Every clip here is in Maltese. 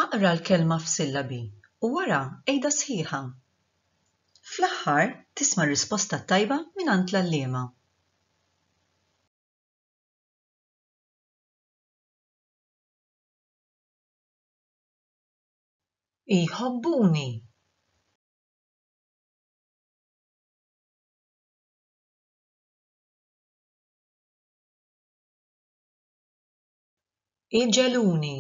Aqra l-kelma f'sillabi u wara għidha sħiħa. Fl-aħħar tisma' r-risposta t-tajba mingħand l-għalliema. Iħobbuni. Iġeluni.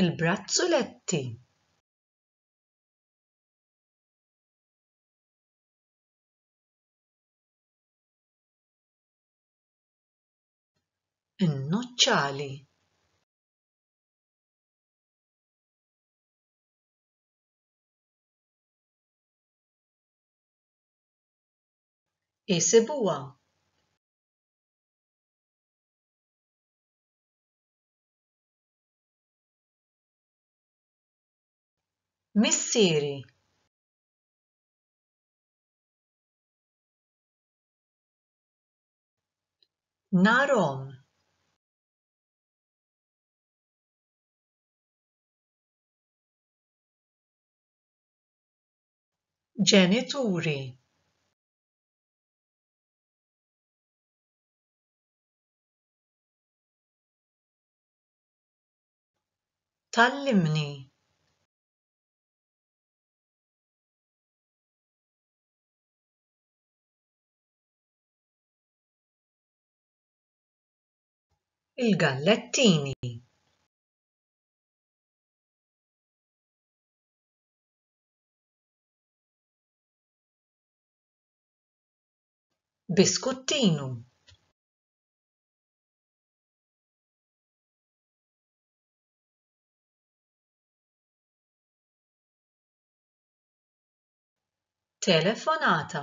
Il-brazzuletti. in-nuċċali. Isibuha Missieri Narhom! Ġenituri! Tgħallimni! il-gallettini biskuttinu telefonata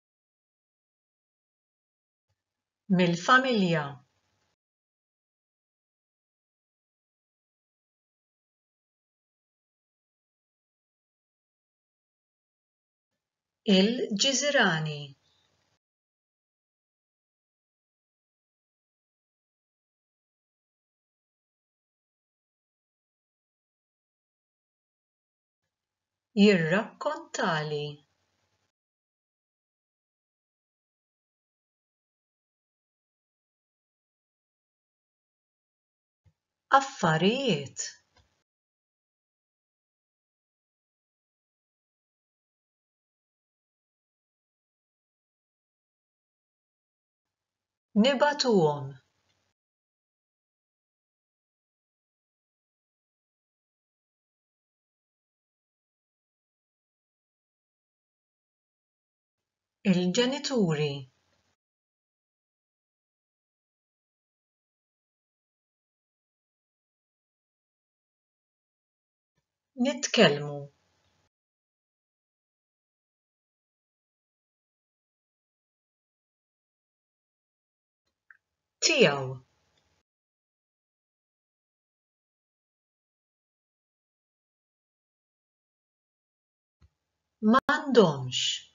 mill-familja il-ġiżirani jirrakkontali affarijiet nibagħtuhom il-ġenituri nitkellmu tiegħu m'għandhomx.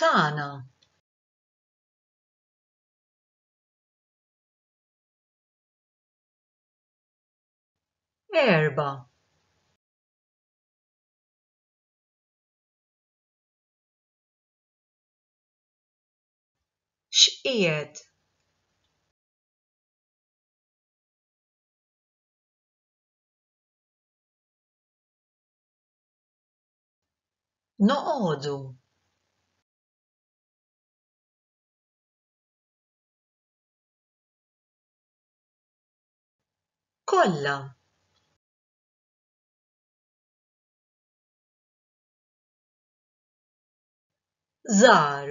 tagħna. Erba. X'qiegħed Noqogħdu. Kollha. żgħar